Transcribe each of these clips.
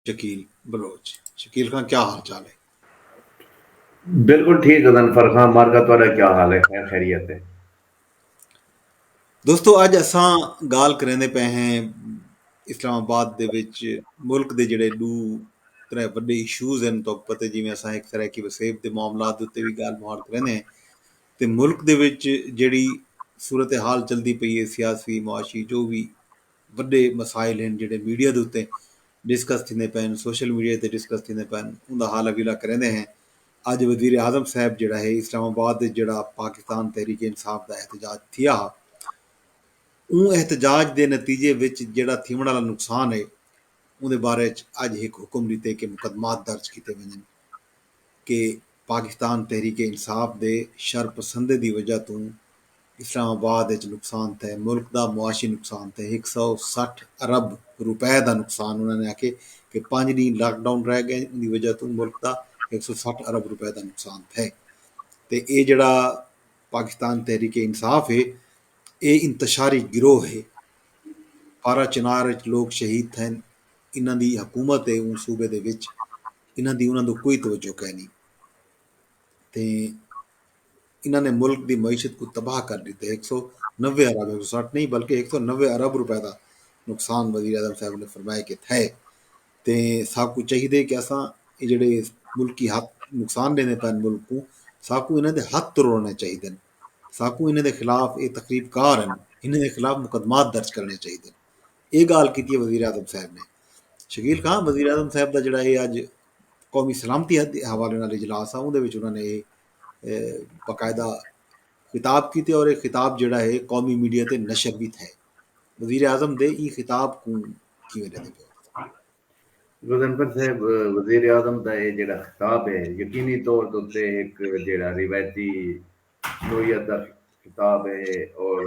شکیل بلوچ شکیل خاں کیا حال چال ہے؟ بالکل ٹھیک غضنفر خاں مارکا تہاڈا کیا حال ہے خیر خیریت ہے؟ دوستو اج اساں گال کریندے پئے ہیں اسلام آباد دے وچ ملک دے جڑے ڈو ترے وڈے ایشوز ہیں تو پتہ جی میں اساں ایک سرائیکی وسیب دے معاملات دے تے بھی گال مہار کریندے ہیں تے ملک دے وچ جڑی صورتحال چلدی پئی ہے سیاسی معاشی جو بھی وݙے مسائل ہن جیڑھے میڈیا دے اتے ڈسکس تھیندے پئے ہن، سوشل میڈیا تے ڈسکس تھیندے پئے ہن، اوندا حال حویلہ کریندے ہیں۔ اڄ وزیراعظم صاحب جیڑھا ہے اسلام آباد اچ جیڑھا پاکستان تحریک انصاف دا احتجاج تھیا ہا اوں احتجاج دے نتیجے وچ جیڑھا تھیوݨ آلا نقصان ہے اوندے بارے اچ اڄ ہک حکم ݙتے کہ مقدمات درج کیتے ونڄن۔ کہ پاکستان تحریک انصاف دے شر پسندیں دی وجہ توں اسلام آباد اچ نقصان تھئے، ملک دا معاشی نقصان تھئے، ہک سو سٹھ ارب روپے دا نقصان، انہاں نے آکھیے کہ پنج ڈینھ لاک ڈاون رہ گئن اوندی وجہ توں ملک دا ہک سو سٹھ ارب روپے دا نقصان تھئے تے اے جیڑھا پاکستان تحریک انصاف اے اے انتشاری گروہ اے، پارہ چنار اچ لوک شہید تھئن، انہاں دی حکومت ہے اوں صوبے دے وچ انہاں دی انہاں دو کوئی توجہ کینی تے انہاں نے ملک دی معیشت کو تباہ کر دیتے ایک سو نوے ارب ایک سو ساٹھ نہیں بلکہ ایک سو نوے ارب روپے دا نقصان وزیر اعظم صاحب نے فرمایا کہ تھے تے ساکو چاہیے کہ اساں یہ جڑے ملکی ہاتھ نقصان دینے پین ملک کو ساکو انہاں دے ہاتھ تروڑنے چاہیے دن ساکو انہاں دے خلاف یہ تقریب کار ہیں انہاں دے خلاف مقدمات درج کرنے چاہیے دن اے گالھ کیتی وزیراعظم صاحب نے شکیل خان وزیراعظم صاحب دا جڑا اے اج قومی سلامتی دے حوالے نال اجلاس آ اوندے وچ انہاں نے اے باقاعدہ خطاب کیتے اور اے خطاب جڑا اے قومی میڈیا تے نشر وی تھے وزیراعظم دے ایں خطاب کوں کیویں ڈیندے پئے گزنفر صاحب وزیر اعظم دا اے جڑا خطاب اے یقینی طور تے ہک جڑا روایتی نوعیت دا خطاب اے اور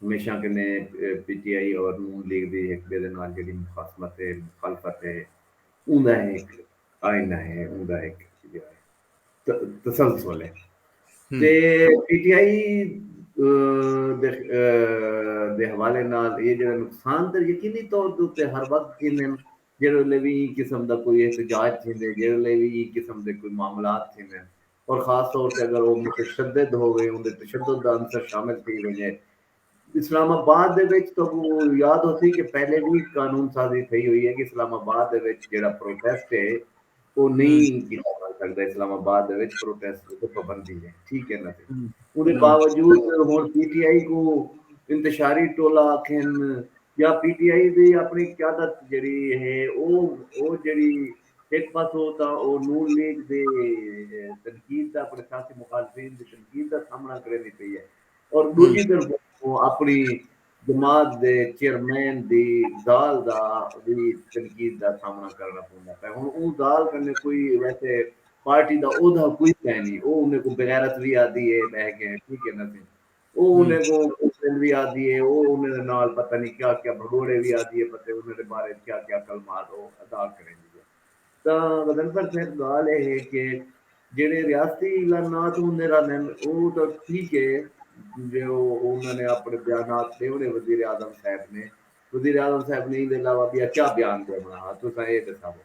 ہمیشہ کنیں پی ٹی آئی اور نون لیگ دی ہک ٻئے دے نال جیڑھی مخاصمت ہے، مخالفت ہے، اوں دا ہک آئینہ ہے، اوں دا ہک تسلسل ہے تے پی ٹی آئی دے حوالے نال ایہ جیڑھا نقصان تے یقینی طور دے اتے ہر وقت تھیندن، جیڑھے ویلے وی ایں قسم دا کوئی احتجاج تھیندے، جیڑھے ویلے وی ایں قسم دے کوئی معاملات تھیندن اور خاص طور تے اگر او متشدد ہووے اوندے تشدد دا عنصر شامل تھی ونجے۔ اسلام آباد دے وچ تہاکوں یاد ہوسی کہ پہلے وی قانون سازی تھئی ہوئی ہے کہ اسلام آباد دے وچ جیڑھا پروٹیسٹ ہے او نئیں کیتا ونج سکدا اسلام آباد دے وچ پروٹیسٹ اتے پابندی ہے ٹھیک ہے نا تے اوندے باوجود ہن پی ٹی آئی کوں انتشاری ٹولہ آکھن یا پی ٹی آئی دی اپنڑی قیادت جیڑھی ہے او او جیڑھی ہک پاسو تاں او نون لیگ دی تنقید دا اپنڑے سیاسی مخالفین دی تنقید دا سامنڑاں کریندی پئی اے اور ڈوجھی طرف او اپنڑی جماعت دے چیئرمین دی ذال دا وی تنقید دا سامنڑاں کرنڑاں پوندا پئے ہنڑ اوں ذال کنڑے کوئی ویسے پارٹی دا عہدہ کوئی کائنی او انڑیں کوں بغیرت وی آدھی اے بہہ کے ٹھیک اے نہ سنگھ او انہیں کوں کفرند وی آہدی ہے او انہیں دے نال پتہ نی کیا کیا بھگوڑے وی آہدی ہے پتے انہیں دے بارے وچ کیا کیا کلمات او ادا کریندی ہے تاں غضنفر صاحب گالھ اے ہے کہ جیڑھے ریاستی اعلانات ہوندے رہندن او تاں ٹھیک ہے جو انہاں نے اپنے بیانات ڈیونے وزیر اعظم صاحب نے وزیر اعظم صاحب نے ایندے علاوہ بیا کیا بیان ڈیونا ہا تساں اے ڈساوو۔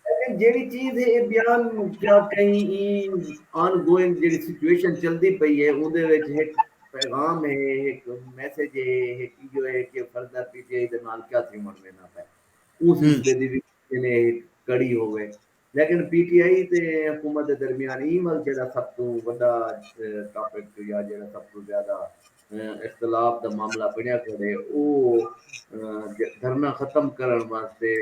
لیکن جیڑی چیز ہے اے بیان کیا کہیں ای آن گوئنگ جیڑی سچویشن چلدی پئی ہے اوندے وچ ہک پیغام ہے ہک میسج ہے ہک ایو ہے کہ فردر پی ٹی آئی دے نال کیا تھیوݨ ویندا پئے اوں سلسلے دی وی کنے ہک کڑی ہووے لیکن پی ٹی آئی تے حکومت دے درمیان ایں ول جیڑا سب توں وڈا ٹاپک یا جیڑا سب توں زیادہ اختلاف دا معاملہ بنڑیا کھڑے او دھرنہ ختم کرنڑ واسطے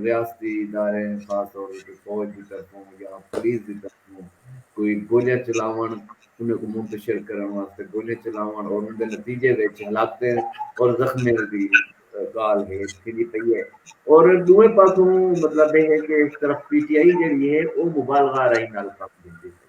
ریاستی اداریں خاص طور اتے فوج دی طرفوں یا پولیس دی طرفوں کوئی گولیاں چلاونڑ انہاں کوں منتشر کرنڑ واسطے گولیاں چلاونڑ اور اوندے نتیجے وچ ہلاکتیں اور زخمیاں دی گالھ گھیج تھیندی پئی ہے اور ڈوہیں پاسوں مطلب اے ہے کہ ایک طرف پی ٹی آئی جیڑھی ہے او مبالغہ آرائی نال کم گھندی پئی ہے۔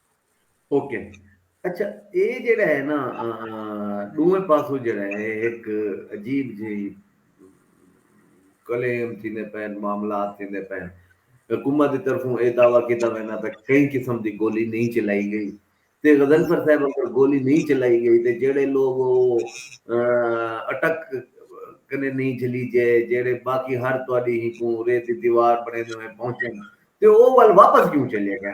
اوکے اچھا اے جیڑا ہے نا ڈوئیں پاسو جیڑا ہے ایک عجیب جی کلیم تھی نے پین معاملات تھی نے پین حکومت دی طرفوں اے دعویٰ کیتا وینا پہ کئی قسم دی گولی نہیں چلائی گئی تے غزل پر صاحب اگر گولی نہیں چلائی گئی تے جیڑے لوگ او اٹک کنے نہیں جھلی جے جیڑے باقی ہر توڑی ہی کوں ریتی دیوار بنے دے میں پہنچے تے او وال واپس کیوں چلے گئے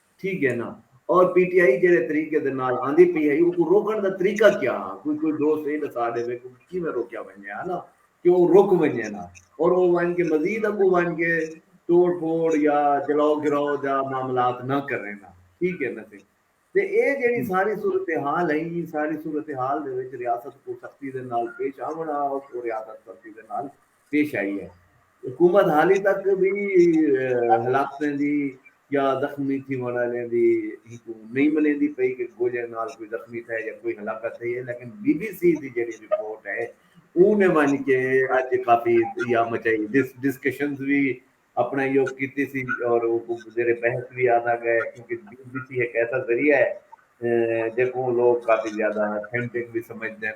تھی گئے نا اور پی ٹی آئی جیڑھے طریقے دے نال آندی پئی ہئی اوکوں روکن دا طریقہ کیا ہا کوئی کوئی دوست اے ڈسا ڈیوے کہ اوکوں کیویں روکیا ونجے ہا نا کہ او رک ونجے نا اور او ونج کے مزید اگوں ونج کے توڑ پھوڑ یا جلاؤ گراؤ دا معاملات نہ کرے نا تھی گئے نا تے اے جیڑھی ساری صورتحال ہئی ایں ساری صورتحال دے وچ ریاست کوں سختی دے نال پیش آونڑاں اوکوں ریاست سختی دے نال پیش آئی اے۔ حکومت حالی تک وی ہلاکتیں دی یا زخمی تھیونڑ آلیاں دی ہکوں نئیں ملیندی پئی کہ گولیاں نال کوئی زخمی تھئے یا کوئی ہلاکت تھئی اے لیکن بی بی سی دی جیڑھی رپورٹ اے اوں نے ونج کے اج کافی یا مچائی ڈسکشنز وی اپنڑاں ایہو کیتی سی اور اوکوں زیر بحث وی آندا گئے کیونکہ بی بی سی ہک ایسا ذریعہ اے جیکوں لوگ کافی زیادہ اتھینٹک وی سمجھدن۔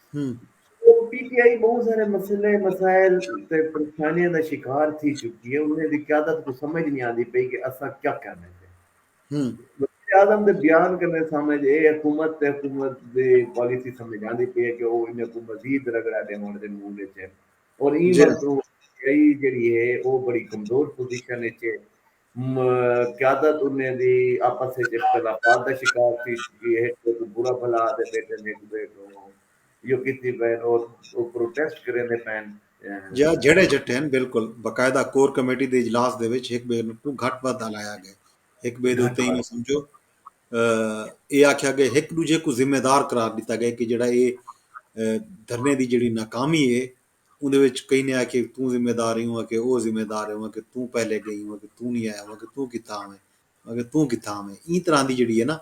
پی ٹی آئی بہوں سارے مسئلے مسائل تے پریشانیاں دا شکار تھی چکی ہے انہیں دی قیادت کو سمجھ نہیں آندی پئی کہ اساں کیا کرنے پے وزیراعظم دے بیان کنے سمجھ اے حکومت تے حکومت دی پالیسی سمجھ آندی پئی ہے کہ او انہیں کو مزید رگڑا ڈیوݨ دے موڈ اچ ہن اور ایں واسطوں پی ٹی آئی جیڑھی ہے او بڑی کمزور پوزیشن اچ ہے م قیادت انھیں دی آپس اچ اختلافات دا شکار تھی چکی اے۔ ہک ٻئے کوں برا بھلا آہدے پیٹن، ہک ٻئے کوں ایہو کیتی پئن او پروٹیسٹ کریندے پئن۔ جا جھیڑے جھٹھین بالکل باقاعدہ کور کمیٹی دے اجلاس دے وچ ہک ٻئے کوں گھٹ ودھ آلایا ڳئے۔ ہک ٻئے دے اتے اینویں سمجھو اے آکھیا ڳئے ہک ݙوجھے کوں ذمہ دار قرار ݙتا ڳئے کہ جیڑھا اے دھرنے دی جیڑھی ناکامی اے اوندے وچ کہیں نے آکھیے توں ذمہ دار ہی ہوں کہ او ذمہ دار ہوں کہ توں پہلے گئی ہوں کہ توں نہیں آیا ہوں کہ توں کتھاں ہوں کہ توں کتھاں ہوں ایں طرح دی جڑی ہے نا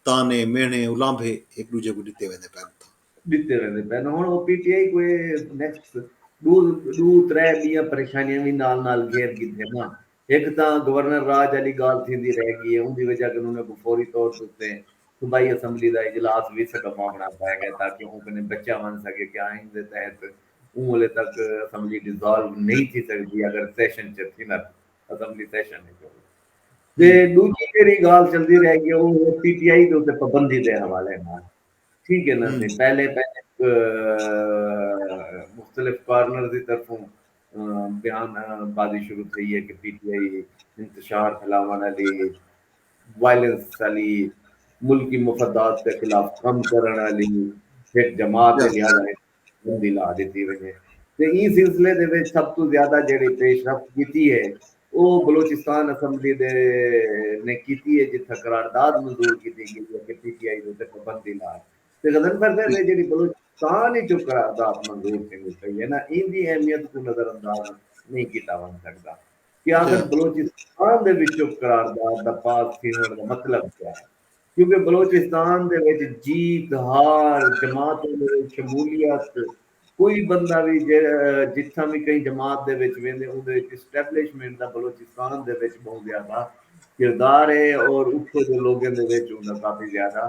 تانے مہنے الانبھے ایک دوجھے کوں ڈتے ویندے پئے اتھاں۔ ڈتے ویندے پئے ہن او پی ٹی آئی کوں اے نیکسٹ ڈو ڈو ترے ڈینہہ پریشانیاں وی نال نال گھیر گھدے نا ہک تاں گورنر راج آلی ڳالھ تھیندی رہ ڳی اے اوندی وجہ کنوں انہیں کوں فوری طور تے اتے صوبائی اسمبلی دا اجلاس وی سڈواوݨا پئے ڳئے تاکہ اوں کنیں بچیا ونڄ سڳے کہ آئین دے تحت اوں ویلے تک اسمبلی ڈیزالو نئیں تھی سڳدی اگر سیشن چ تھینداں تاں اسمبلی سیشن وچ ہووے تے ݙوجھی جیڑھی ڳالھ چلدی رہ ڳی او اے پی ٹی آئی دے اتے پابندی دے حوالے نال ٹھیک اے نا سئیں پہلے پہلے مختلف کارنرز دی طرفوں بیان بازی شروع تھئی ہے کہ پی ٹی آئی انتشار پھیلاونڑ آلی وائلنس آلی ملکی مفدات دے خلاف کم کرنڑ آلی ہک جماعت ہے لہذا اینوں پابندی لا ڈتی ونجے تے ایں سلسلے دے وچ سب توں زیادہ جیہڑی پیش رفت کیتی ہے او بلوچستان اسمبلی دے نے کیتی ہے جتھاں قرارداد منظور کیتی گئی ہے کہ پی ٹی آئی دے اتے پابندی لا تے غضنفر صاحب اے جیڑھی بلوچستان اچوں قرارداد منظور تھیندی پئی اے نا ایندی اہمیت کوں نظر انداز نئیں کیتا ونج سگدا کہ آخر بلوچستان دے وچوں قرارداد دا پاس تھیوݨ دا مطلب کیا اے کیونکہ بلوچستان دے وچ جیت ہار جماعتاں دے وچ شمولیت کوئی بندہ وی جتھاں وی کہیں جماعت دے وچ ویندے اوندے وچ اسٹیبلشمنٹ دا بلوچستان دے وچ ٻہوں زیادہ کردار اے اور اتھوں دے لوگیں دے وچ اوندا کافی زیادہ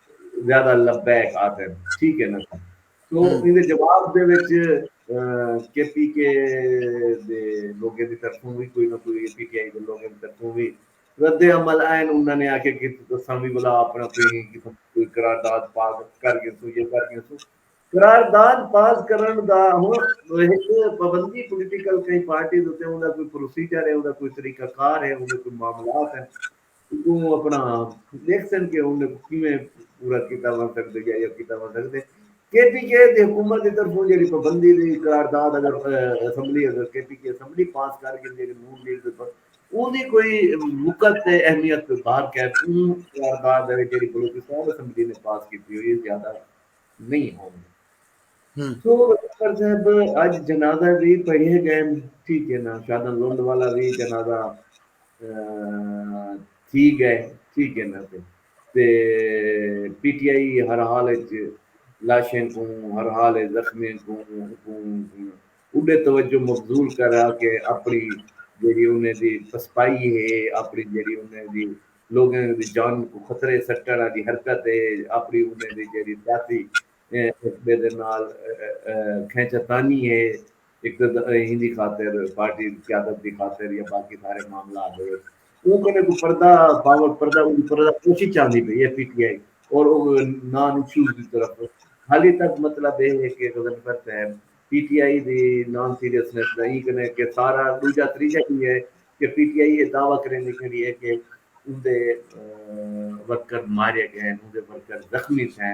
زیادہ لبیک آہدن ٹھیک ہے نا سا تو ایندے جواب دے وچ کے پی کے دے لوگیں دی طرفوں وی کوئی نہ کوئی اے پی ٹی آئی دے لوگیں دی طرفوں وی رد عمل آئن انہاں نے آکھیا کہ اساں وی بھلا اپنا کوئی قسم کوئی قرارداد پاس کر گھنسوں یا کر گھنسوں قرارداد پاس کرن دا ہن ہک پابندی پولیٹیکل کہیں پارٹی دے اتے اوندا کوئی پروسیجر ہے اوندا کوئی طریقہ کار ہے اوندا کوئی معاملات ہیں اگوں اپنا ڈیکھسن کہ انہیں کیویں پورا کیتا ونج سگدے یا یا کیتا ونج سگدے کے پی کے دی حکومت دی طرفوں جیڑی پابندی دی قرارداد اگر اسمبلی اگر کے پی کے اسمبلی پاس کر گھن جیڑی نون لیگ دے پر اوں دی کوئی وقت تے اہمیت کوئی بار کہہ اوں قرارداد ہے جیڑی بلوچستان اسمبلی نے پاس کیتی ہوئی ہے زیادہ نہیں ہوندی سو اکبر صاحب اج جنازہ وی پڑھیے گئے ٹھیک ہے نا شادن لنڈ والا وی جنازہ تھی گئے ٹھیک ہے نا تے تے پی ٹی آئی ہر حال اچ لاشیں کوں ہر حال اچ زخمیاں کوں اڈے توجہ مبذول کرا کے اپنی جیڑی انہیں دی پسپائی ہے اپنی جیڑی انہیں دی لوگیں دی جان کو خطرے سٹن والی حرکت ہے اپنی انہیں دی جیڑی سیاسی ایف بے دے نال کھینچا تانی ہے ایندی خاطر پارٹی قیادت دی خاطر یا باقی سارے معاملات دے وچ اوں کنے کوئی پردہ پاوٹ پردہ اوں پردہ کوشش چاہندی پئی ہے پی ٹی آئی اور او نا نچوڑ دی طرف حالی تک مطلب اے ہے کہ غضنفر صاحب پی ٹی آئی دی نان سیریسنس دا ایں کنے کہ سارا دوجا تریجا کی ہے کہ پی ٹی آئی اے دعوی کریندی کھڑی ہے کہ اوندے ورکر مارے گئے اوندے ورکر زخمی تھئے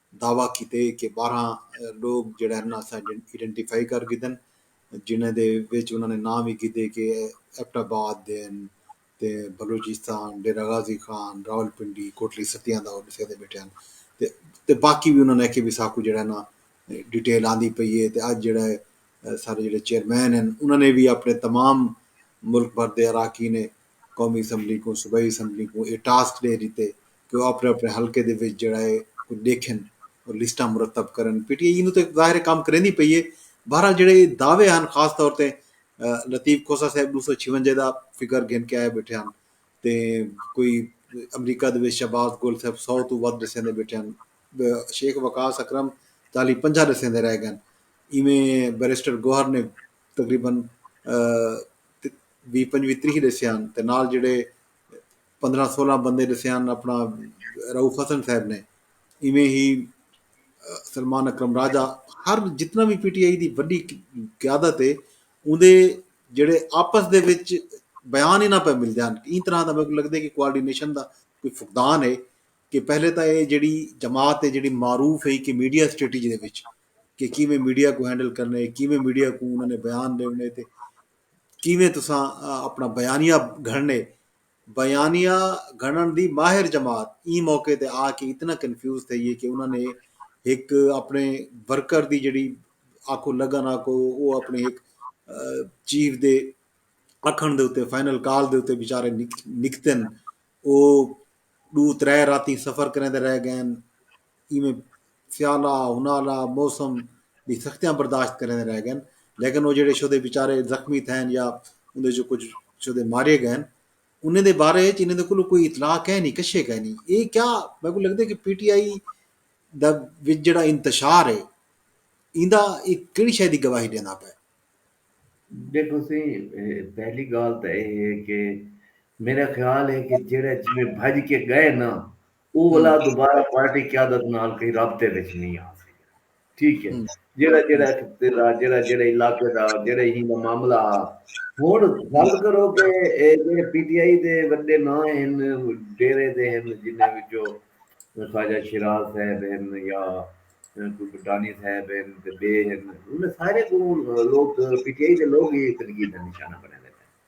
دعوی کیتے کہ بارہاں لوک جیڑھے ہن اساں ایڈنٹیفائی کر گھدن جنہاں دے وچ انہاں نے ناں وی گھدے کہ ایبٹ آباد دے ہن تے بلوچستان ڈیرہ غازی خان راولپنڈی کوٹلی ستیاں دا او ڈسے دے بیٹھے ہن تے باقی وی انہاں نے آکھیے وی ساکوں جیڑھے نا ڈیٹیل آندی پئی اے تے اج جیڑھے سارے جیڑھے چیئرمین ہن انہاں نے وی اپنے تمام ملک بھر دے اراکین قومی اسمبلی کوں صوبائی اسمبلی کوں اے ٹاسک ڈے ڈتے کہ او آپݨے آپݨے حلقے دے وچ جیڑھا ہے او ݙیکھن اور لسٹاں مرتب کرن، پی ٹی آئی اینوں تاں ظاہر ہے کم کریندی پئی ہے، بہرحال جیڑھے ایہ دعوے ہن خاص طور تے لطیف کھوسہ صاحب ݙو سو چھیونجے دا فگر گھن کے آئے ٻیٹھے ہن تے کوئی امریکہ دے وچ شہباز گل صاحب سو توں ودھ ݙسیندے ٻیٹھے ہن، شیخ وقاص اکرم چالیہہ پنجاہ ݙسیندے رہ ڳئن، ایویں بیرسٹر گوہر نے تقریبا ویہہ پنجویہہ تریہہ ݙسے ہن تے نال جیڑھے۔ پندرہ سولہ بندے ڈسے ہن اپنا روف حسن صاحب نے ایویں ہی سلمان اکرم راجا ہر جتنا بھی پی ٹی آئی دی وڈی قیادت ہے اوندے جڑے آپس دے وچ بیان ہی نہ پہ ملدے ہن این طرح دا میکو لگدے کہ کوارڈینیشن دا کوئی فقدان ہے کہ پہلے تاں اے جڑی جماعت ہے جڑی معروف ہے کہ میڈیا اسٹریٹجی دے وچ کہ کیویں میڈیا کو ہینڈل کرنے کیویں میڈیا کو انہاں نے بیان دیونے تے کیویں تساں اپنا بیانیہ گھڑنے بیانیہ گھنݨ دی ماہر جماعت ایں موقع تے آ کے اتنا کنفیوز تھئی اے کہ انہاں نے ہک اپݨے ورکر دی جیڑھی آکھو لگن آکھو او اپݨے ہک چیف دے اکھݨ دے اتے فائنل کال دے اتے بیچارے نکتن او ݙو ترے راتیں سفر کریندے رہ ڳئن ایویں سیالہ انہالہ موسم دی سختیاں برداشت کریندے رہ گئن لیکن او جیڑھے شودے بیچارے زخمی تھئن یا اوندے چوں کجھ شودے مارے گئن انہیں دے بارے اچ انہیں دے کولوں کوئی اطلاع کینی کشے کینی اے کیا میں کوں لگدے کہ پی ٹی آئی دا وچ جیڑھا انتشار اے ایندا اے کیڑی شے دی گواہی ڈیندا پئے۔ ڈیکھو سی پہلی گال تاں اے ہے کہ میرا خیال ہے کہ جیڑھے جیویں بھج کے گئے نا۔ او ولا دوبارہ پارٹی قیادت نال کہیں رابطے وچ نی آ سگیا۔ ٹھیک ہے۔ جیڑھا جیڑھا اتھوں پھرا جیڑھا جیڑھا علاقے دا جیڑھا ہی دا معاملہ ہا۔ ہن گل کرو کہ اے جیڑھے پی ٹی آئی دے وڈے ناں ہن ڈیرے دے ہن جنہاں وچوں خواجہ شیراز صاحب ہن یا کوئی بھٹانی صاحب ہن تے ڈے ہن انہاں سارے کوں لوک پی ٹی آئی دے لوک ہی تنقید دا نشانہ بنڑے بیٹھے۔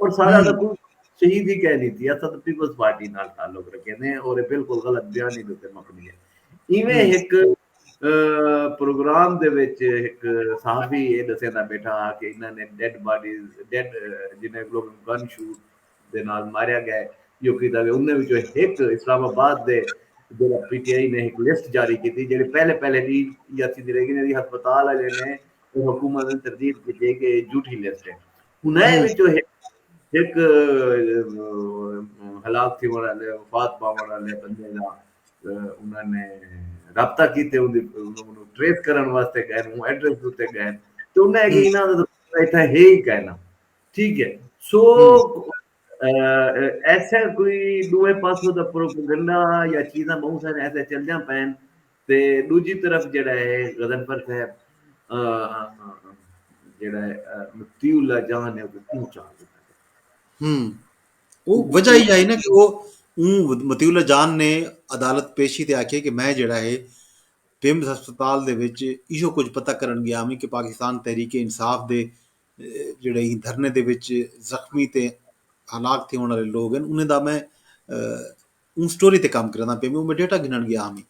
اور سارا دا کچھ شہید ہی کہہ لیتی ہے سب پیپلز پارٹی نال تعلق رکھے نے اور بالکل غلط بیانی دے تے مبنی ہے ایویں ایک پروگرام دے وچ ایک صحافی اے دسے دا بیٹھا ہا کہ انہاں نے ڈیڈ باڈیز ڈیڈ جنہیں لوگ گن شوٹ دے نال ماریا گئے جو کیتا گئے انہاں وچوں ایک اسلام آباد دے جڑا پی ٹی آئی نے ایک لسٹ جاری کیتی جڑے پہلے پہلے دی یا تھی رہی گئی ہسپتال والے نے حکومت نے تردید کیتی کہ جھوٹی لسٹ ہے انہائیں وچوں ہک ہک ہلاک تھی وڑا لے وفات پا وڑا لے بندے دا انہاں نے رابطہ کیتے ان دی ٹریس کرن واسطے گئے ہوں ایڈریس دوتے گئے تو انہاں نے انہاں دا ایتھا ہے ہی کہنا ٹھیک ہے سو ایسے کوئی ݙوہیں پاسوں دا پروپیگنڈا یا چیزاں ٻہوں سارے ایسے چلدیاں پئن تے ݙوجھی طرف جیڑھا ہے غضنفر صاحب جیڑھا ہے مفتی اللہ جان ہے او کیوں چاہ دیتا ہے ہم او وجہ ہی آئی نا کہ او اون مفتی اللہ جان نے عدالت پیشی تے آکھے کہ میں جیڑھا ہے پیمز ہسپتال دے وچ ایشو کچھ پتہ کرن گیا ہمیں کہ پاکستان تحریک انصاف دے جیڑھے ایں دھرنے دے وچ زخمی تے ہلاک تھیوݨ آلے لوگ ہن انہیں دا میں اوں سٹوری تے کم کریندا پیا میں ڈیٹا گھنݨ گیا ہاں میں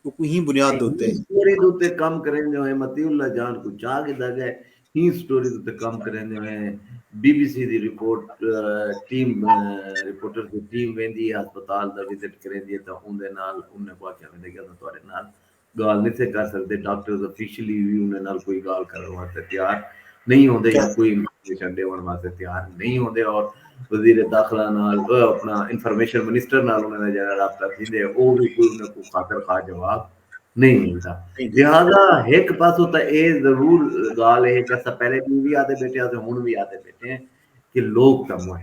او کوئی ہی بنیاد دے اوتے سٹوری دے اوتے کم کریندے ہوئے مطیع اللہ جان کوں چا گھدا گئے ہی سٹوری دے اوتے کم کریندے ہوئے بی بی سی دی رپورٹ ٹیم رپورٹر دی ٹیم ویندی ہے ہسپتال دا وزٹ کریندی ہے تاں اوندے نال انہیں کو آکھیا ویندے کہ اساں تہاڈے نال گالھ نتھے کر سگدے، ڈاکٹرز آفیشلی وی انہاں نال کوئی گالھ کرݨ واسطے تیار نئیں ہوندے یا کوئی انفارمیشن ݙیوݨ واسطے تیار نئیں ہوندے اور وزیر داخلہ نال اپݨا انفارمیشن منسٹر نال انہاں دا جیڑھا رابطہ تھیندے او وی کوئی انہاں کوں خاطر خواہ جواب نئیں ملدا لہذا ہک پاسوں تاں اے ضرور گالھ اے کہ اساں پہلے وی آہدے ٻیٹھے ہاں تے ہݨ وی آہدے ٻیٹھے ہیں کہ لوک تاں موئے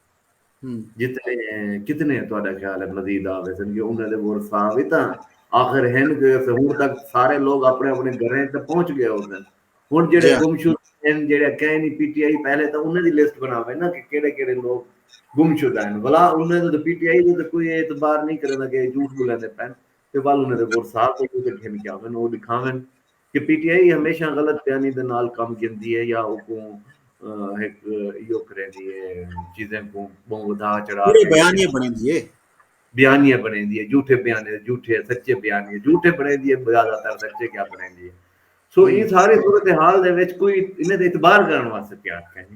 جتنے کتنے تہاڈا خیال ہے مزید آ ویسن کہ انہاں دے ورثاء وی تاں آخر ہن کہ ہن تک سارے لوگ اپنے اپنے گھراں وچ تاں پہنچ گئے ہوسن ہن جیڑھے گمشدہ ہن جیڑھے کہیں نہیں پی ٹی آئی پہلے تاں انہاں دی لسٹ بناوے نا کہ کیڑے کیڑے لوگ گمشدہ ہن ولا انہاں دے پی ٹی آئی دے تے کوئی اعتبار نہیں کریندا کہ جھوٹ بولیندے پن تے ول انہاں دے ورثاء کوئی تے گھن کے آون او ݙکھاون کہ پی ٹی آئی ہمیشہ غلط بیانی دے نال کم گھندی ہے یا اوکوں ہک ایہو کریندی ہے چیزیں کوں ٻہوں ودھا چڑھا پورے بیانیے بݨیندی ہے۔ بیانیے بݨیندی ہے جھوٹے بیانیے جھوٹے سچے بیانیے جھوٹے بݨیندی ہے زیادہ تر سچے کیا بݨیندی ہے سو ایں ساری صورتحال دے وچ کوئی انہیں تے اعتبار کرݨ واسطے تیار کائنی۔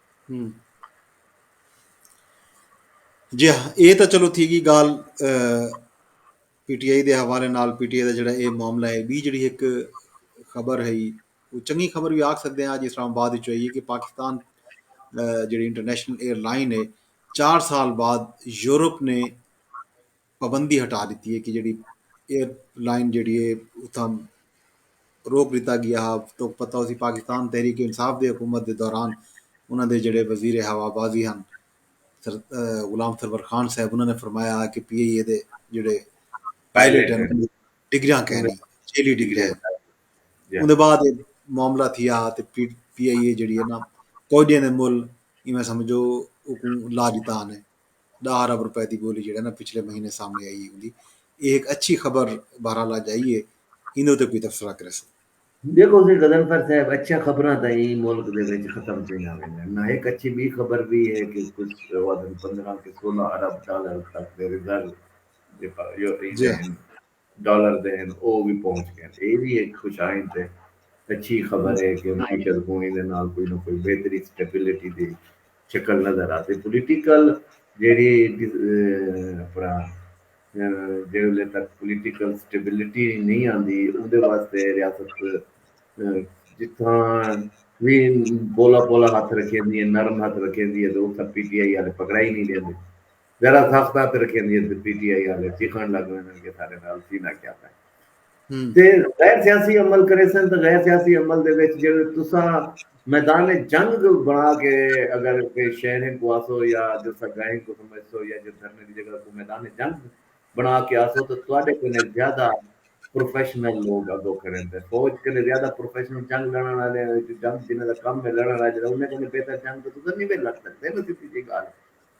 جی ہاں اے تاں چلو تھی گی گال پی ٹی آئی دے حوالے نال پی ٹی آئی دا جڑا اے معاملہ ہے بی جڑی ایک خبر ہے وہ چنگی خبر بھی آکھ سکتے ہیں آج اسلام آباد وچ ہوئی ہے کہ پاکستان جڑی انٹرنیشنل ایئر لائن ہے چار سال بعد یورپ نے پابندی ہٹا ڈتی ہے کہ جیڑی ایئر لائن جیڑی ہے اتھاں روک ڈتا گیا ہا تو پتہ ہو سی پاکستان تحریک انصاف دے حکومت دے دوران انہاں دے جڑے وزیر ہوا بازی ہن سر غلام سرور خان صاحب انہاں نے فرمایا ہا کہ پی ای اے دے جڑے پائلٹ ہیں ڈگریاں کہیں نہیں چیلی ڈگریاں ہیں اندے بعد معاملہ تھیا ہا تے پی پی ای اے جڑی ہے نا کوئی دے مول ایویں سمجھو لا دیتا نے ݙاہ ارب روپے دی ٻولی جیڑھا نا پچھلے مہینے سامݨے آئی ہوندی اے ہک اچھی خبر بہرحال اڄ آئی اے ایندے اتے کوئی تبصرہ کریسوں۔ ݙیکھو سی غضنفر صاحب اچھیاں خبراں تاں ایں ملک دے وچ ختم تھیندیاں ویندین نا ہک اچھی ٻی خبر وی اے کہ کچھ اوادن پندرہ کہ سولہ ارب ڈالر خاص کر ریزرو جے پا جو ایندے ہن ڈالر دے ہن او وی پہنچ گئن اے وی ہک خوش آئند تے اچھی خبر اے کہ معیشت کوں ایندے نال کوئی نہ کوئی بہتری سٹیبلٹی دی شکل نظر آسی پولیٹیکل جیڑھی اپنا جیڑھے ویلے تک پولیٹیکل سٹیبلٹی نئیں آندی اوندے واسطے ریاست جتھاں وی پولا پولا ہتھ رکھیندی اے نرم ہتھ رکھیندی اے تے اتھاں پی ٹی آئی آلے پکڑائی نئیں ڈیندے ذرا سخت ہتھ رکھیندی ہے تے پی ٹی آئی آلے چیخنڑ لگ ویندن کہ ساڈے نال سینہ کیا پے تے غیر سیاسی عمل کریسن تے غیر سیاسی عمل دے وچ جیڑھے تساں میدان جنگ بنا کے اگر کہیں شہر ہن کوں آسو یا جتھاں گاہ ہن کوں سمجھسو یا جے دھرنے دی جگہ کوں میدان جنگ بنا کے آسو تے تہاڈے کنے زیادہ پروفیشنل لوگ اگو کھڑے ہن تے فوج کنے زیادہ پروفیشنل جنگ لڑنڑ آلے جنگ جنہاں دا کم ہے لڑنڑ آلے انہاں کنے بہتر جنگ تے تساں نی ویل لڑ سکدے نا سدھی جیہی گالھ ہے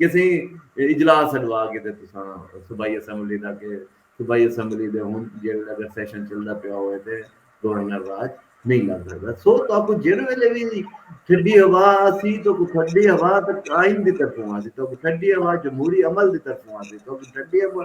کسی اجلاس سڈوا کے تے تساں صوبائی اسمبلی دا کہ صوبائی اسمبلی دے ہن جیڑھے اگر سیشن چلدا پیا ہوئے تے گورنر راج نہیں لگ سکدا سو تو اپ جیڑ ویلے وی ٹھڈی ہوا اسی تو کو ٹھڈی ہوا تے قائم دی طرفوں اسی تو ٹھڈی ہوا جمہوری عمل دی طرفوں اسی تو ٹھڈی ہوا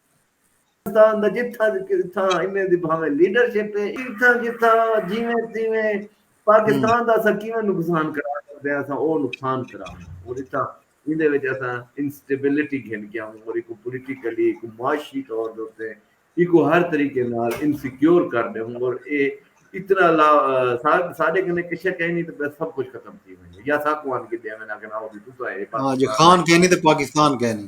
پاکستان دا جتھاں جتھاں انہیں دی بھاویں لیڈرشپ ہے جتھاں جتھاں جیویں تیویں پاکستان دا اساں کیویں نقصان کرا سکدے ہاں اساں او نقصان کراوݨ اور اتھاں ایندے وچ اساں انسٹیبلٹی گھن کے آوݨ اور ایکو پولیٹیکلی ایکو معاشی طور دے اتے ایکو ہر طریقے نال انسیکیور کر ݙیووں اور اے اتنا لا ساڈے کنے کشے کہیں نہیں تے بس سب کچھ ختم تھی ویندے یا ساکوں آن کے ݙیویں اگر آؤ تساں اے پاکستان ہاں جی خان کہیں نہیں تے پاکستان کہیں نہیں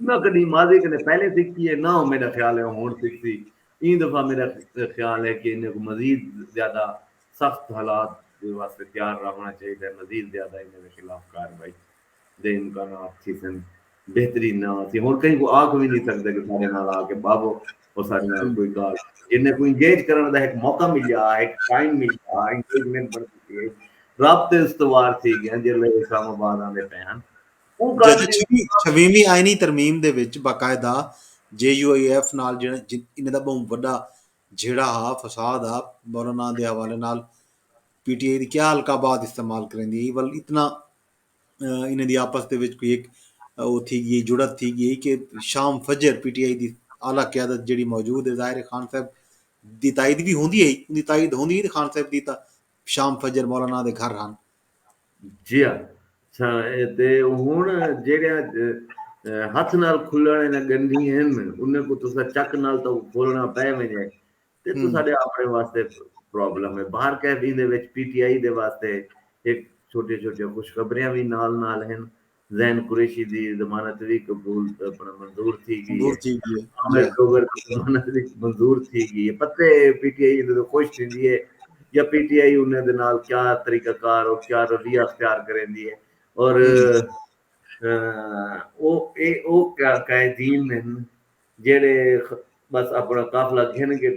نہ کݙی ماضی کنے پہلے سکھی ہے نہ میݙا خیال ہے او ہݨ سکھسی ایں دفعہ میݙا خیال ہے کہ انہاں کوں مزید زیادہ سخت حالات دے واسطے تیار راہوݨا چاہیدا ہے مزید زیادہ انہاں دے خلاف کاروائی دے امکانات تھیسن بہترین نہ تھی ہݨ کہیں کوں آکھ وی نی سکدے کہ ساݙے نال آ کے ٻہو او ساݙے نال کوئی ڳالھ جنہاں کوں انگیج کرݨ دا ہک موقع ملیا ہک ٹائم ملیا انگیجمنٹ بݨ چکی ہے رابطے استوار تھی ڳئن جیلھے اسلام آباد آندے پئے ہن جیڑھے چھویہویں آئینی ترمیم دے وچ باقاعدہ جے یو آئی ایف نال انہاں دا بہوں وڈا جھیڑا ہا فساد ہا مولانا دے حوالے نال پی ٹی آئی دی کیا حلقہ بعد استعمال کریندی ہی ول اتنا انہاں دی آپس دے وچ کوئی ایک او تھی گئی جڑت تھی گئی کہ شام فجر پی ٹی آئی دی اعلی قیادت جڑی موجود ہے ظاہر خان صاحب دی تائید بھی ہوندی ہے ان دی تائید ہوندی ہے خان صاحب دی تا شام فجر مولانا دے گھر ہن جیا ساں تے ہن جیڑھیاں ہتھ نال کھلݨ آلیاں ڳنڈھیں ہن انھاں کوں تساں چک نال تاں کوں کھولݨا پئے ونڄے تے تساݙے آپݨے واسطے پرابلم ہے باہر قیدی دے وچ پی ٹی آئی دے واسطے ہک چھوٹیاں چھوٹیاں خوشخبریاں وی نال نال ہن زین قریشی دی ضمانت وی قبول اپنا منظور تھی گئی ہے عامر ڈوگر دی ضمانت وی منظور تھی گئی ہے پتے پی ٹی آئی ایندے توں خوش تھیندی ہے یا پی ٹی آئی انہیں دے نال کیا طریقہ کار اور کیا رویہ اختیار کریندی ہے اور او اے او قائدین ہن جیڑھے بس اپنا قافلہ گھن کے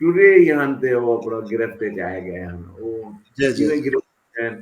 ٹرے ہی ہن تے او اپنا گرفت اچ آئے گئے ہن او جیویں گرفت اچ آئے ہن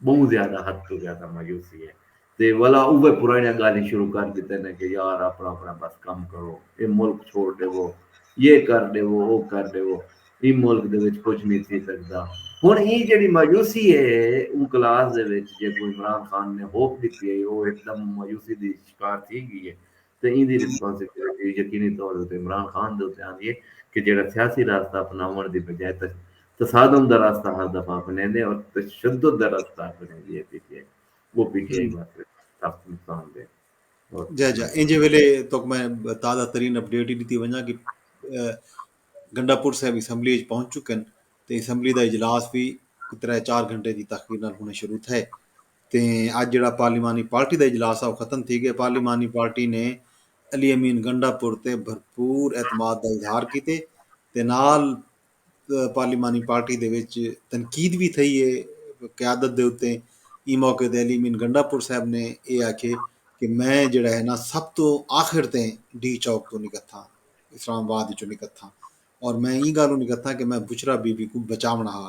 بہوں زیادہ حد توں زیادہ مایوسی ہے تے ولا اوہے پرانڑیاں گالھیں شروع کر ڈتے نے کہ یار اپنڑاں اپنڑاں بس کم کرو اے ملک چھوڑ ڈیوو یہ کر ڈیوو او کر ڈیوو ایں ملک دے وچ کجھ نی تھی سگدا ہن ایں جیڑھی مایوسی ہے اوں کلاس دے وچ جیکوں عمران خان نے ہوپ ڈتی ہئی او ہک دم مایوسی دی شکار تھی گی ہے تے ایندی ریسپانسبلٹی یقینی طور اتے عمران خان دے اتے آندی ہے کہ جیہڑا سیاسی راستہ اپناوݨ دی بجائے تصادم دا راستہ ہر دفعہ اپنیندے اور تشدد دا راستہ اپنیندی ہے پی ٹی آئی او پی ٹی آئی واسطے سخت نقصان دہ جا جا اینجے ویلے توک میں تازہ ترین اپ ڈیٹ ہی ڈتی ونجا کہ گنڈا پور صاحب اسمبلی اچ پہنچ چکن تے اسمبلی دا اجلاس بھی ترے چار گھنٹے دی تاخیر نال ہونے شروع تھے تے اج جیڑھا پارلیمانی پارٹی دا اجلاس ہا او ختم تھی ڳئے، پارلیمانی پارٹی نے علی امین گنڈا پور تے بھرپور اعتماد دا اظہار کیتے تے نال پارلیمانی پارٹی دے وچ تنقید وی تھئی اے قیادت دے اتے ایں موقع تے علی امین گنڈا پور صاحب نے اے آکھے کہ میں جیڑھا ہے نا سب توں آخر تے ڈی چوک توں نکتھاں اسلام آباد وچوں نکتھاں اور میں ایں گالوں نکتھاں کہ میں بشرا بی بی کوں بچاوݨا ہا۔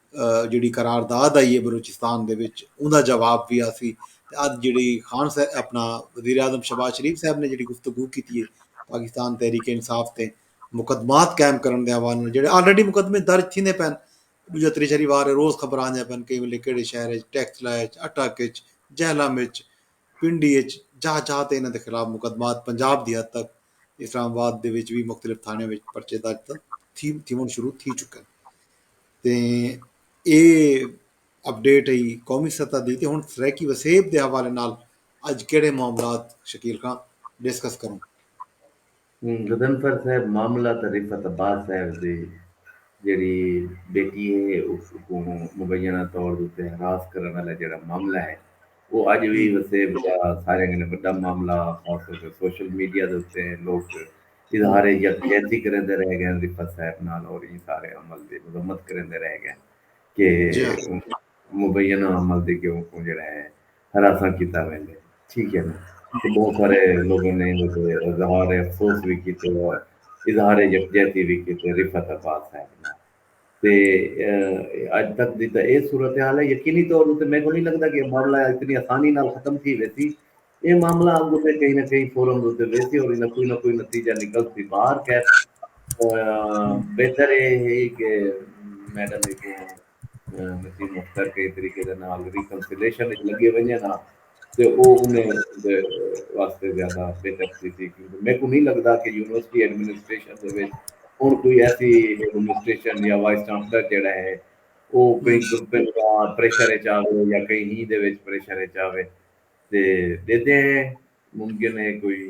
جیڑھی قرار داد آئی ہے بلوچستان دے وچ اوندا جواب وی آسی تے اج جیڑھی خان صاحب اپنا وزیر اعظم شہباز شریف صاحب نے جیڑھی گفتگو کیتی ہے پاکستان تحریک انصاف تے مقدمات قائم کرن دے حوالے نال جیڑھے آلریڈی مقدمے درج تھیندے پئن ڈوجا تریشری وار ہے روز خبر آندیاں پئن کئی ویلے کیڑے شہر اچ ٹیکس لا اچ اٹک اچ جہلم اچ پنڈی اچ جاہ جاہ تے انہاں دے خلاف مقدمات پنجاب دی حد تک اسلام آباد دے وچ وی مختلف تھانڑیاں وچ پرچے درج تھیونڑ شروع تھی چکن تے اے اپڈیٹ ہئی قومی سطح دی تے ہنڑ سرائیکی وسیب دے حوالے نال اج کیڑھے معاملات شکیل خاں ڈسکس کروں۔ غضنفر صاحب معاملہ تاں رفعت عباس صاحب دی جیڑھی بیٹی ہے اوکوں مبینہ طور دے اتے ہراس کرنڑ آلا جیڑھا معاملہ ہے او اڄ وی وسیب دا ساریاں کنوں وݙا معاملہ خاص طور تے سوشل میڈیا دے اتے لوک اظہار یکجہتی کریندے رہ ڳئن رفعت صاحب نال اور ایں سارے عمل دی مذمت کریندے رہ ڳئن کہ مبینہ عمل دی کہ اوکوں جیڑھا ہے ہراساں کیتا ویندے ٹھیک ہے نا تے بہت سارے لوگوں نے ایں تے اظہار افسوس وی کیتے اور اظہار یکجہتی وی کیتے رفعت عباس صاحب نال تے اڄ تک دی تاں ایہ صورتحال ہے۔ یقینی طور اتے میکوں نئیں لگدا کہ ایہ معاملہ اتنی آسانی نال ختم تھی ویسی۔ ایہ معاملہ اڳ اتے کہیں نہ کہیں فورم اتے ویسی اور ایندا کوئی نہ کوئی نتیجہ نکلسی۔ بہر خیر بہتر ایہ ہئی کہ میڈم ایکوں نسیم اختر کہیں طریقے دے نال ریکنسیلیشن اچ لڳے ونڄن ہا۔ تے او انہیں دے واسطے زیادہ بہتر تھیسی کیونکہ میکوں نہیں لگدا کہ یونیورسٹی ایڈمنسٹریشن دے وچ ہن کوئی ایسی ایڈمنسٹریشن یا وائس چانسلر جیڑا ہے او کہیں گروپنگ دا پریشر اچ آوے یا کہیں ہی دے وچ پریشر اچ آوے تے ڈیدے ہیں ممکن ہے کوئی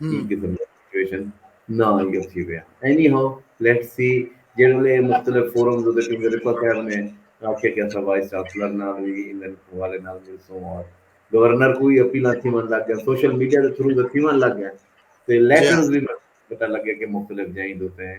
ایں قسم دا سچویشن نہ آئی اچھی ویا اینی ہاؤ لیٹ سی جیڑے لے مختلف فورمز ہوتے کیونکہ رفا صاحب نے آکھیا کہ اسا وائس چانسلر نال وی انہاں حوالے نال مل سوں اور گورنر کو وی اپیلاں تھیون لگ گئے سوشل میڈیا دے تھرو تھیون لگ گئے تے لیٹرز وی پتہ لگے کہ مختلف جائیں دوتے ہیں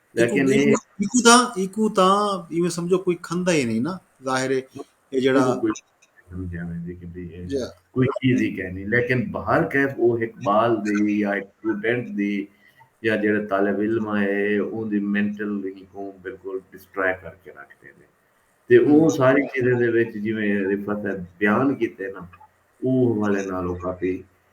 لیکن ایکو تاں ایکو تاں ایویں سمجھو کوئی کھندا ہی نہیں نا ظاہر ہے یہ جڑا جی۔ کوئی چیز ہی کہنی لیکن باہر کیف وہ ایک بال دے یا ایک اسٹوڈنٹ دی یا جڑا طالب علم ہے اون دی مینٹل ہی کو بالکل ڈسٹرائے کر کے رکھ دے دے تے وہ ساری چیزیں دے وچ جی میں رفت ہے بیان کیتے نا وہ والے نالو کافی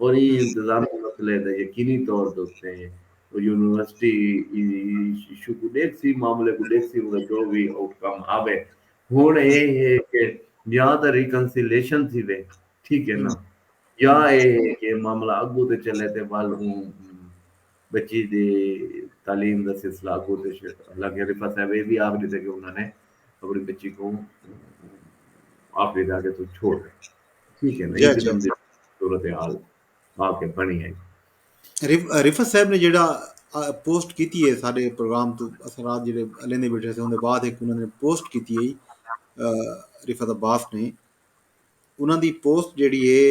اور ایں انتظامی مسئلے دا یقینی طور دے اتے او یونیورسٹی ایشو کوں ڈیکھسی، معاملے کوں ڈیکھسی اوں دا جو وی آؤٹ کم آوے۔ ہنڑ اے ہے کہ یا تاں ریکنسیلیشن تھیوے ٹھیک ہے نا یا اے ہے کہ معاملہ اگوں تے چلے تے ول اوں بچی دی تعلیم دا سلسلہ اگو تے شے حالانکہ رفعت صاحب اے وی آکھ ڈتے کہ انہاں نے اپنی بچی کوں آخری دھاگے توں چھوڑ ڈتے ٹھیک ہے نا جی جی صورتحال آ کے بنی ہے رفعت صاحب نے جڑا پوسٹ کیتی ہے سارے پروگرام تو اساں رات جڑے لیندے بیٹھے تھے اون دے بعد ایک انہاں نے پوسٹ کیتی ہے رفعت عباس نے انہاں دی پوسٹ جڑی ہے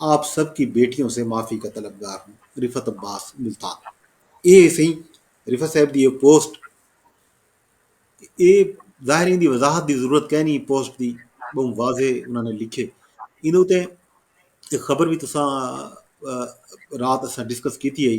آپ سب کی بیٹیوں سے معافی کا طلبگار ہوں رفت عباس ملتان اے سہی رفت صاحب دی اے پوسٹ اے ظاہر ان دی وضاحت دی ضرورت کہہ نہیں پوسٹ دی بہت واضح انہوں نے لکھے ان اتنے ایک خبر بھی تسا رات اسا ڈسکس کیتی ہے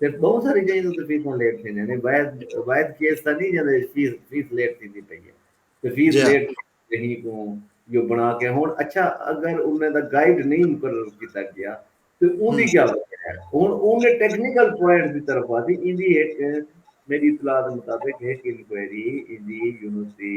تے بہوں ساری جئیں توں تے فیساں لیٹ تھیندیاں نے واحد واحد کیس تاں نہیں جیندے فیس فیس لیٹ تھیندی پئی ہے تے فیس جی لیٹ کہیں کو جو بنا کے ہن اچھا اگر انہیں دا گائیڈ نہیں مقرر کیتا گیا تے اون دی ہوں کیا وجہ ہے ہن اون دے ٹیکنیکل پوائنٹ دی طرف آسی ایندی ہک میری اطلاع دے مطابق ہک انکوائری ایندی یونیورسٹی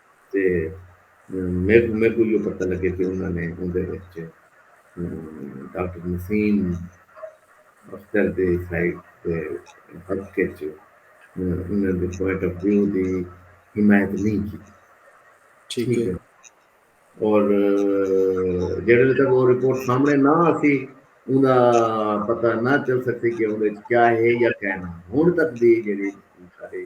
تے میکوں میکوں ایہو پتہ لگے کہ انہاں نے اوندے وچ ڈاکٹر نسیم اختر دے سائیڈ دے حق وچ انہاں دے پوائنٹ آف ویو دی حمایت نہیں کی ٹھیک ہے اور جڑے تک وہ رپورٹ سامنے نہ آسی اوندا پتہ نہ چل سکتی کہ اون وچ کیا ہے یا کیا نہ ہن تک دی جڑی ساری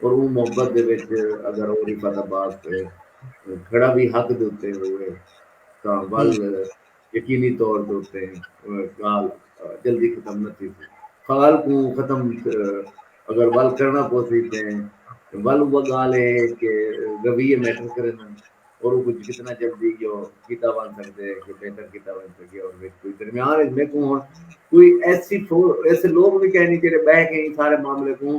اور اوں محبت دے وچ اگر او رفعت عباس تے کھڑا وی حق دے اتے ہووے تاں ول یقینی طور دے اتے گالھ جلدی ختم نہ تھیسی۔ خال کوں ختم اگر ول کرنا پوسی تے ول اوہ گالھ اے کہ رویے میٹر کریندن اور اوکوں جتنا جلدی یو کیتا ونج سگدے یو بہتر کیتا ونج سگے اور وچ کوئی درمیان وچ میکوں ہن کوئی ایسی ایسے لوگ وی کینی جیڑھے بہہ کے ایں سارے معاملے کوں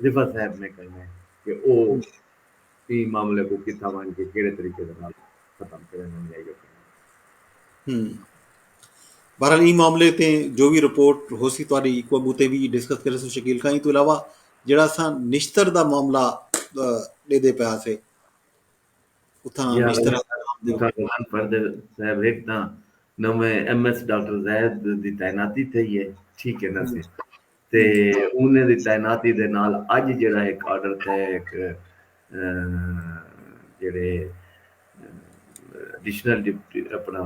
رفعت صاحب نے کہیے کہ او ایں معاملے کوں کتھاں ونڄ کے کیہڑے طریقے دے نال ختم کریندن یا ایہو کریندن۔ بہرحال ایں معاملے تے جو وی رپورٹ ہوسی تہاݙی کوں اڳوں تے وی ڈسکس کریسوں شکیل خان، ایں توں علاوہ جیڑھا اساں نشتر دا معاملہ ݙیندے پئے ہاسے اتھاں نشتر صاحب ہک تاں نویں ایم ایس ڈاکٹر زاہد دی تعیناتی تھئی ہے ٹھیک ہے نا سی تے انھیں دی تعیناتی دے نال اڄ جیڑھا ہک آرڈر تے ہک جیڑھے ایڈیشنل ڈپٹی اپنا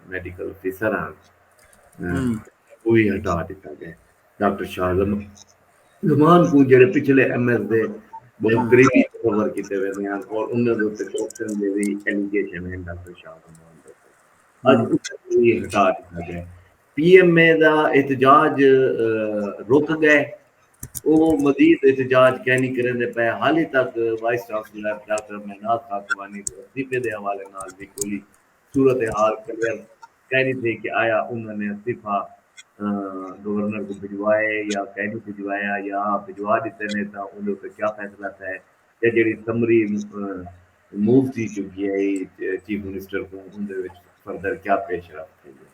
میڈیکل آفیسر ہن اوہی ہٹا ݙتا ڳئے ڈاکٹر شاہ زمان کوں جیڑھے پچھلے ایم ایس دے بہوں قریبی تصور کیتے ویندے ہن اور انھیں دے اتے کرپشن دے وی ایلیگیشن ہن ڈاکٹر شاہ زمان دے اتے اڄ اوہی ہٹا ݙتا ڳئے۔ پی ایم اے دا احتجاج رک گئے او مزید احتجاج کینی کریندے پئے حالی تک vice chancellor doctor Minaz Khakwani دے استعفے دے حوالے نال وی کوئی صورت حال کلیئر کینی تھئی کہ آیا انہاں نے استعفی گورنر کوں بھجوائے یا کینی بھجوایا یا بھجوا ڈتے نے تاں اوندے اتے کیا فیصلہ تھئے یا جیڑھی سمری موو تھی چکی ہئی چیف منسٹر کوں اوندے وچ فردر کیا پیش رفت تھئی ہے۔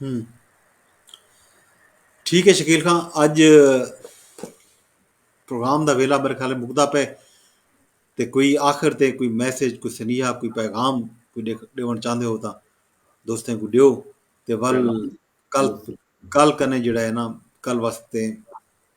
ہوں ٹھیک ہے شکیل خان اج پروگرام دا ویلا میرے خیال مکدا پے تے کوئی آخر تے کوئی میسج کوئی سنیہا کوئی پیغام کوئی ڈیون چاہندے ہو تا دوستیں کو دیو تے ول کل کل کنے جڑا ہے نا کل واسطے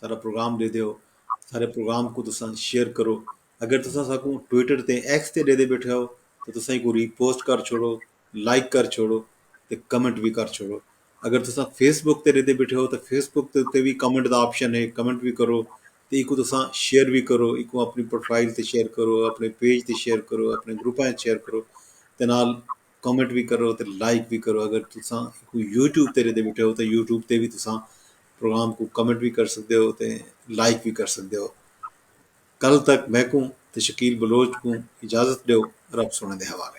سارا پروگرام ݙے دیو سارے پروگرام کوں تساں شیئر کرو اگر تساں ساکوں ٹویٹر تے ایکس تے ݙیندے بیٹھے ہو تاں تساں ایکوں ری پوسٹ کر چھوڑو لائک کر چھوڑو تے کمنٹ وی کر چھوڑو اگر تساں فیس بک تے ݙیندے بیٹھے ہو تاں فیس بک تے اتے وی کمنٹ دا آپشن ہے کمنٹ وی کرو تے ایکوں تساں شیئر وی کرو ایکوں اپݨی پروفائل تے شیئر کرو اپݨے پیج تے شیئر کرو اپݨے گروپاں اچ شیئر کرو تے نال کمنٹ بھی کرو تے لائک بھی کرو اگر تساں کوئی یوٹیوب تے ریدے بیٹھے ہو تے یوٹیوب تے بھی تساں پروگرام کو کمنٹ بھی کر سکدے ہو تے لائک بھی کر سکدے ہو کل تک میں کو تے شکیل بلوچ کو اجازت دیو رب سونے دے حوالے